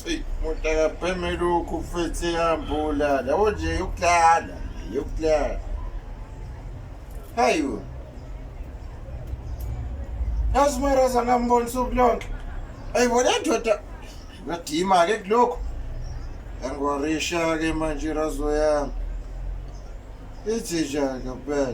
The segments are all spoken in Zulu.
Eyi, umuntu akapheme lokhu futhi ehamba olala. Yabo nje yokulala, yokulala. Hayi bo. Yazi Marasa ngambona usuku lonke. Ayi bo le ndoda ngadima-ke kulokhu. Yangiwarisha-ke manje irazo yami. Ithi njani ngempela?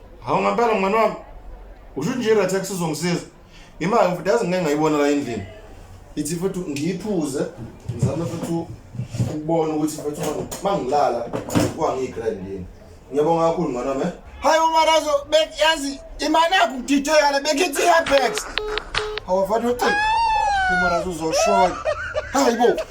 Hawu ngempela mngani wami. Usho nje right tax uzongisiza. Imali futhi yazi ngeke ngayibona la endlini. Ithi futhi ngiyiphuze ngizame futhi ukubona ukuthi futhi mangilala kwangiyigrand yini. Ngiyabonga kakhulu mngani wami. Eh? Hayi umarazo beyazi imali yakho kudideka le bekithi iyabex. Hawu mfana uthi umarazo uzoshola. Hayi bo.